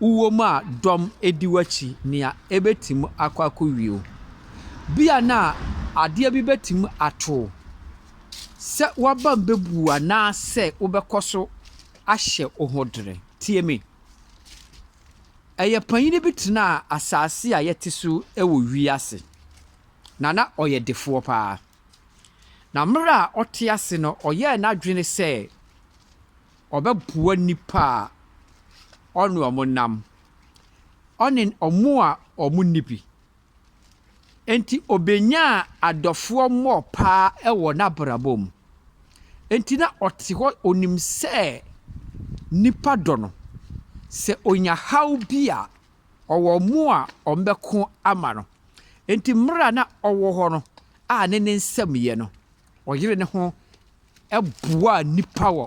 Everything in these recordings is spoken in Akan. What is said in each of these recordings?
wowɔ mu a dɔm di w'akyi, nea ebetumi akɔ akowie wo. Ebia na adeɛ bi betumi ato wo sɛ w'abam bɛbu wo anaasɛ wobɛkɔ so ahyɛ wo ho dere. Tie me. Ɛyɛ panyin bi tenaa asase a yɛte so wɔ wiase, na na ɔyɛ defoɔ paa. Na mmerɛ a ɔte ase no, ɔyɛɛ n'adwene sɛ ɔbɛboa nnipa a ɔne wɔn nam, ɔne wɔn a wɔnni bi. Enti obenyaa adɔfoɔ mmɔɔ paa wɔ n'abrabɔ mu. Enti na ɔte hɔ, ɔnim sɛ nnipa dɔ no. Sɛ ɔnya haw bi a, ɔwɔ wɔn a wɔbɛko ama no. Enti mmerɛ a na ɔwɔ hɔ no a ne ne nsam yɛ no, ɔyere ne ho boaa nnipa wɔ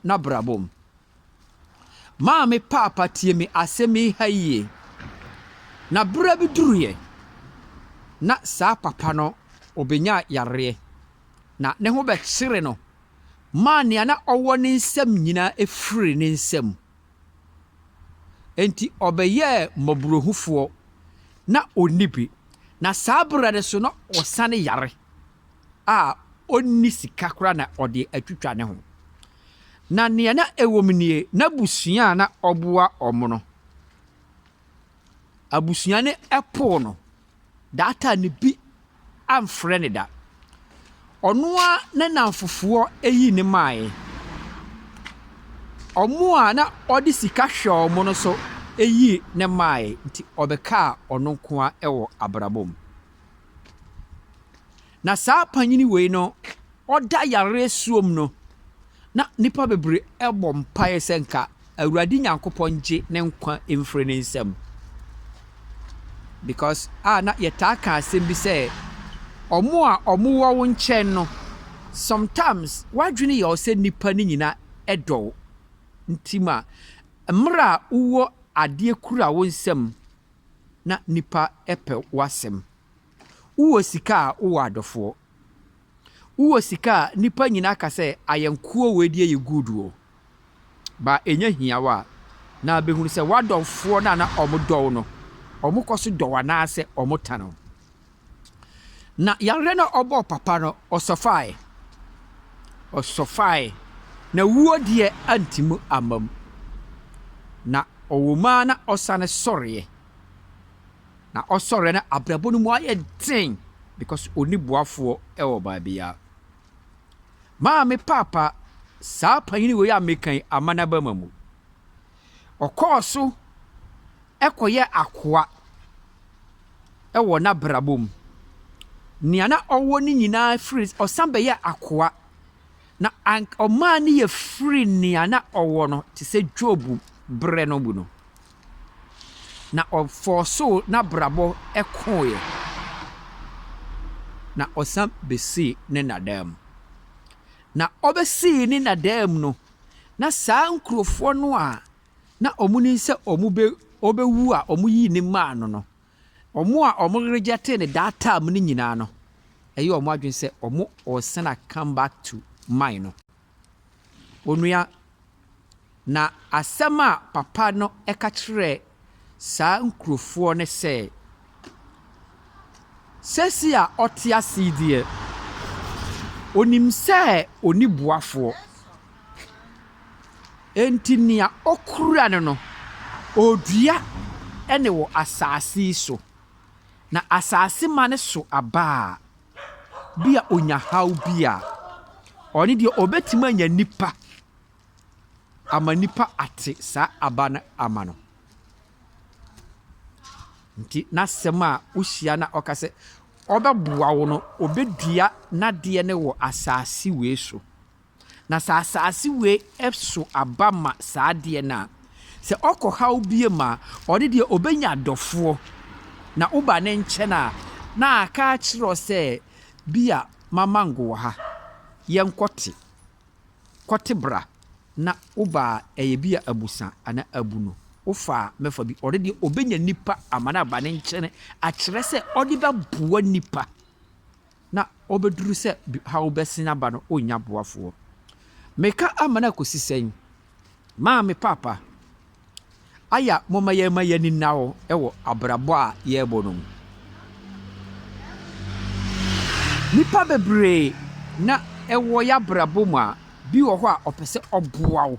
n'abrabɔ mu. Maame paapa tie me asɛm yi ha yie. Na berɛ bi duruiɛ, na saa papa no ɔbɛnya yareɛ, na ne ho bɛkyere no maa nea na ɔwɔ ne nsam nyinaa firii ne nsam. Enti ɔbɛyɛɛ mmɔborɔhufoɔ, na ɔnni bi, na saa berɛ no nso na ɔsane yare a ɔnni sika koraa na ɔde atwitwa ne ho. Na deɛ na ɛwom nie, n'abusua a na ɔboa wɔn no, abusua no poo no, daataa no bi amfrɛ no da. Ɔno ara ne nnamfofoɔ yii no maeɛ. Wɔn a na ɔde sika hwɛ wɔn no nso yii no maeɛ, enti ɔbɛkaa ɔno nko ara wɔ abrabɔ mu. Na saa panin wei no, ɔda yareɛ soɔ mu no, na nnipa bebree bɔ mpaeɛ sɛ nka Awurade Nyankopɔn ngye ne nkwa mfiri ne nsam. Because a na yɛtaa ka asɛm bi sɛ, ɔmo a ɔmo wɔ wo nkyɛn no, sometimes w'adwene yɛ wo sɛ nnipa no nyina dɔ wo. Nti ma mmerɛ a wowɔ adeɛ kura wo nsam na nnipa pɛ w'asɛm. Wowɔ sika a wowɔ adɔfoɔ. Wowɔ sika a nipa nyina ka sɛ ayɛnkoɔ wei deɛ yɛ good o. Ba ɛnyɛ hia wo a na bɛhunu sɛ w'adɔfoɔ no a na ɔmo dɔ wo no ɔmo kɔ so dɔ wo anaasɛ ɔmo tan wo. Na yareɛ no a ɔbɔɔ papa no ɔsɔfaeɛ. Ɔsɔfaeɛ na wuo deɛ antim amma mu. Na ɔwɔ mu ara na ɔsane sɔreɛ. na ɔsɔre na abrabɔ no mu ayɛ den because ɔnni boafoɔ wɔ baabiara. Maa me paapa saa panyini wei a meka yi Amana Abama mu. Ɔkɔɔ so kɔyɛ akoa wɔ n'abrabɔ mu. Nea na ɔwɔ ne nyinaa firi ɔsan bɛyɛ akoa na ɔmaa ne yɛ firi nea na ɔwɔ no te sɛ Job berɛ no mu no. na ɔfɔɔsoo n'abrabɔ kooeɛ, na ɔsan bɛsii ne nna daa mu. Na ɔbɛsii ne nna daa mu no, na saa nkurofoɔ no a na wɔnim sɛ wɔbɛ ɔbɛwu a wɔyii no maa no no, wɔn a wɔregyɛte no that time no nyinaa no, ɛyɛ wɔn adwene sɛ wɔn ɔɔsan a come back to mine no. Onua, na asɛm a papa no ka kyerɛɛ saa nkurofoɔ no sɛ, Seesei a ɔte ase yi deɛ, ɔnim sɛ ɔnni boafoɔ, enti nea ɔkura no no, ɔredua ne wɔ asase yi so, na asase ma no so aba a, bi a ɔnya haw bi a, ɔno deɛ ɔbɛtumi anya nipa ama nipa ate saa aba no ama no. Nti n'asɛm a wohyia na ɔka sɛ ɔbɛboa wo no, ɔbɛdua n'adeɛ no wɔ asase wei so. Na sɛ asaase wei so aba ma saa adeɛ no a, sɛ ɔkɔ haw biem a, ɔde deɛ ɔbɛnya adɔfoɔ. Na woba ne nkyɛn a, na aka akyerɛ wo sɛ, bi a mamango wɔ ha, yɛnkɔte, kɔte bra, na woba a, ɛyɛ bi a abusa anaa abunu, wofa a, mɛfa bi. Ɔde deɛ ɔbɛnya nipa ama no aba ne nkyɛn akyerɛ sɛ ɔde bɛboa nipa. na ɔbɛduru sɛ haw bɛsen aba no, ɔnnya boafoɔ. Meka ama no akɔsi sɛn? Maame Paapa, aya momma yɛmma yɛn ani nna hɔ wɔ abrabɔ a yɛrebɔ no mu. Nnipa bebree na ɛwɔ yɛabrabɔ mu a, bi wɔ hɔ a ɔpɛ sɛ ɔboa wo.